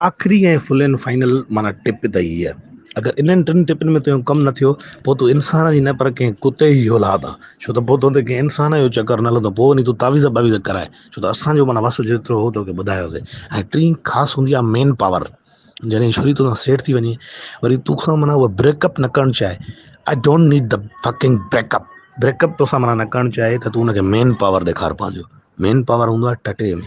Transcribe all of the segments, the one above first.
آخري ۽ فلين فائنل معنيٰ ٽپ ته هيء، اگر انهن ٽن ٽپن ۾ تنهنجو ڪم نه ٿيو، پوء تون انسان جي نه پر ڪنهن ڪتي جي اولاد آن، ڇو ته پوء تنهنجي ڪنهن انسان جو چڪر نه هلندو، پوء وڃي تون تعويذ باويذ ڪرائي، ڇو ته اسان جو معنيٰ وس جيترو هو توکي ٻڌايوسين. ۽ ٽين خاص هوندي آهي مين پاور، جڏهن ڇوري توسان سيٽ ٿي وڃي، وري توکان معنيٰ اها بريڪ اپ نه ڪرڻ چاهي، I don't need the fucking break up, break up توسان معنيٰ نه ڪرڻ چاهي ته تون ان کي مين پاور ڏيکار پنهنجو، مين پاور هوندو آهي ٽٽي ۾.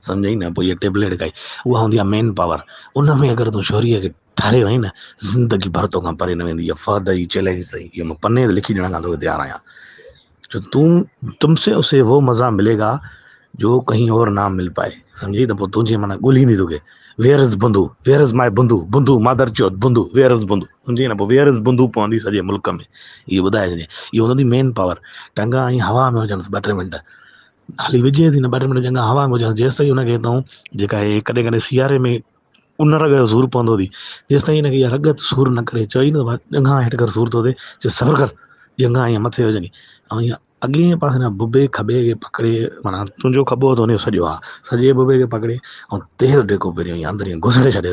سمجهئي نه پوء اها ٽيبليٽ کائي اها هوندي آهي مين پاور ان ۾ اگر تون شوريء کي ٺاري وئين نه زندگي ڀر تو کان پري نه ويندي اها فهد جي چئلينج اٿئي اهو مان پني تي لکي ڏيڻ کان توکي تيار آهيان جو تون تم سي اسي وو مزا ملي گا جو ڪهين اور نه مل پائي سمجهي ته پوء تنهنجي معنيٰ ڳوليندي توکي ويئر از بندو ويئر از مائي بندو بندو مادر چوت بندو ويئر از بندو سمجهي نه پوء ويئر از بندو پوندي سڄي ملڪ ۾ اهو ٻڌائي ڇڏي اهو هوندي مين پاور ٽنگا ائين هوا ۾ هجنس ٻه ٽي منٽ خالي وجهي ٿي نه ٻه ٽي منٽ چڱا هوا ۾ هجان جيستائين ان کي تون جيڪا هي ڪڏهن ڪڏهن سياري ۾ ان رڳ جو سور پوندو تي جيستائين ان کي اها رڳ سور نه ڪري چوئي نه ڏنگا هيٺ ڪر سور ٿو ٿئي چي صبر ڪر ڏنگا ائين مٿي هجن ۽ ائين اڳئين پاسي نه ببي کٻي کي پڪڙي معناها تنهنجو کٻو ٿو نيو سڄو آ سڄي ببي کي پڪڙي ۽ تيز ڊيڪو پهريو ائين اندر ائين گسڙي ڇڏي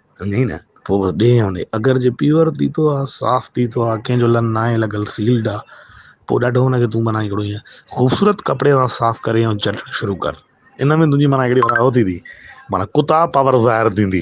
سمجهين نه؟ پوء بس ڏيهه يا ڏيهه اگر جي پيور تيتو آ صاف تيتو آ ڪنهن جو لن ناهي لڳل سيلڊ آ پوء ڏاڍو ان کي تون معنيٰ هڪڙو ائين خوبصورت ڪپڙي سان صاف ڪري ۽ چٽڻ شروع ڪر ان ۾ تنهنجي معنيٰ هڪڙي هو ٿيندي معنيٰ ڪتا پاور ظاهر ٿيندي